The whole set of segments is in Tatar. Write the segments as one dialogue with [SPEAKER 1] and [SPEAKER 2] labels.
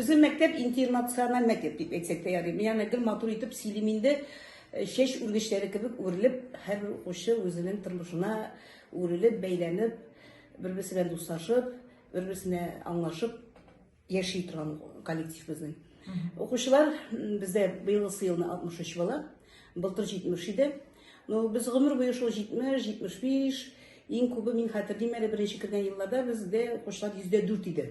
[SPEAKER 1] Безнең мәктәп интернациональ мәктәп дип әйтсәк тә ярый. Миңа гел матур итеп сөйлим инде. Э, чәч үргечләре кебек үрелеп, һәрбер укучы үзенең тормышына үрелеп, бәйләнеп, бер-берсе белән дуслашып, бер-берсенә аңлашып яши торган коллектив безнең. Укучылар бездә быелгысы елны 63 бала, былтыр 70 иде. Ну, без гомер буе шул 70, 75, иң күбе мин хәтерлим әле беренче кергән елларда бездә укучылар 104 иде.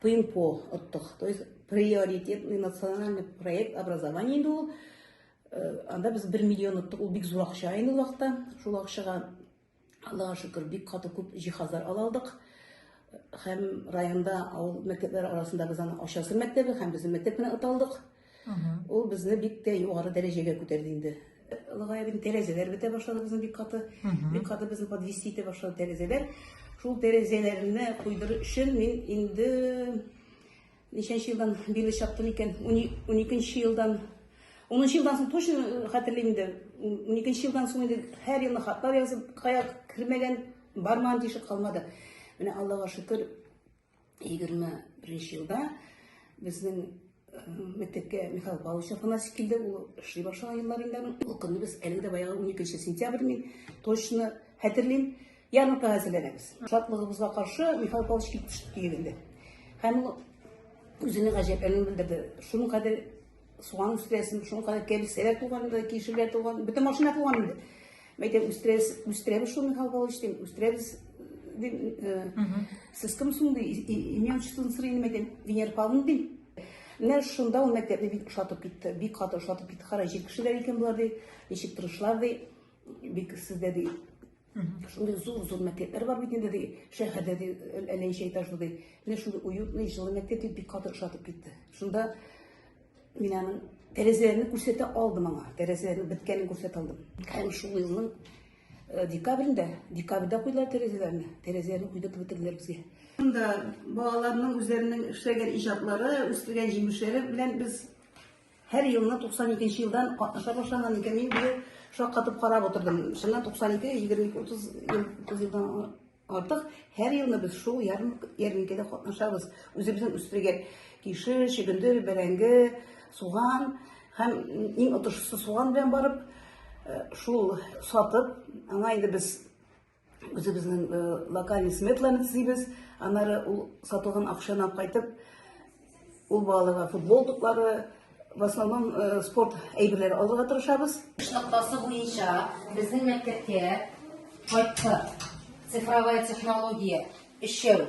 [SPEAKER 1] Пинг-понг оттык. То есть приоритетный национальный проект образования инде ул. Э, анда без 1 миллион оттык. Ул бик зур акча инде вакытта. Шул акчага Аллага шөкер, бик каты күп җиһазлар ала алдык. Һәм районда авыл мәктәпләре арасында без аны Ачасы мәктәбе һәм безнең мәктәп белән аталдык. Ул безне бик тә югары дәрәҗәгә күтәрде инде. Лыгая бит тәрәзәләр бетә башлады безнең бик каты. Бик каты безне подвести итә башлады тәрәзәләр. Шул тәрәзәләрне куйдыру өчен мин инде ничәнче елдан бирле чаптым икән? 12 елдан 10 елдан соң точно э, хәтерлим инде. 12 елдан соң инде һәр елны хатлар язып, кая кермәгән, бармаган тишек калмады. Менә Аллага шөкер, 21 елда безнең мәктәпкә Михаил Павлович Афанасьев килде, ул эшли башлаган елларында. Ул көнне без әле дә баягы 12 сентябрь мин точно хәтерлим, ярмарка әзерләнәбез. Шатлыгыбызга каршы Михаил Павлович килеп төште инде. Һәм ул үзенең гаҗәпләнүен белдерде. Шуның кадәр Суган үстерәсен, шуның кадәр кәбестәләр туган, кишерләр туган, бөтен машина туган инде. Мәйтәм үстерәбез, үстерәбез шуны Михаил Павлович дим, үстерәбез дим. Сез кем соң ди, имя отчествоны сорыйм мәйтәм, Венера Павловна дим. Менә шунда ул мәктәпне бик ошатып китте, бик каты ошатып китте. Кара, җир кешеләр икән болар ди, ничек тырышлар ди, бик сездә ди Шундай зур-зур мәктәпләр бар бит инде, ди, шәһәрдә, ди, Әләй Шәйташ ди. Менә шундый уютный, җылы мәктәп дип бик каты ошатып китте. Шунда мин аның тәрәзәләрне күрсәтә алдым аңа. Тәрәзәләрнең беткәнен күрсәтә алдым. Һәм шул елның э, декабрендә, декабрьдә куйдылар тәрәзәләрне. Тәрәзәләрне куйдырып бетерделәр безгә. Шунда балаларның үзләренең эшләгән иҗатлары, үстергән җимешләре белән без Һәр елны 92 елдан катнаша башлаган икән, мин бу шаккатып карап утырдым. Шуннан 92, 22, 30 ел, 30 елдан артык һәр елны без шул ярминкәдә катнашабыз. Үзебезнең үстергән кише, чөгендер, бәрәңге, суган һәм иң отышлысы суган белән барып, э, шул сатып, аңа инде без үзебезнең э, локальный сметланы төзибез аннары ул сатылган акчаны алып кайтып ул балаларга футбол туплары в основном э, спорт әйберләре алырга тырышабыз эш ноктасы буенча
[SPEAKER 2] безнең мәктәпкә кайтты цифровая технология өчәү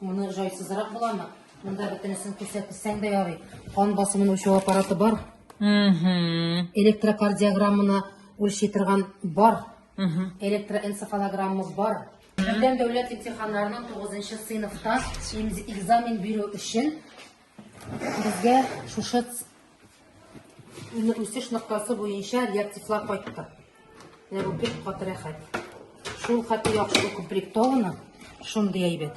[SPEAKER 2] Моны жайсызрак буламы? Монда бөтенесен күрсәтсәң дә ярый. Кан басымын үлчәү аппараты бар. Угу. Электрокардиограмманы үлчи торган бар. Угу. Электроэнцефалограмма бар. Бүтән дәүләт имтиханнарының 9 сыйныфта экзамен бирү өчен Безгә шушы үсеш ноктасы буенча реактивлар кайтты. Менә бу бик каты рәхәт. Шул хәтле яхшы укомплектовано, шундый әйбәт.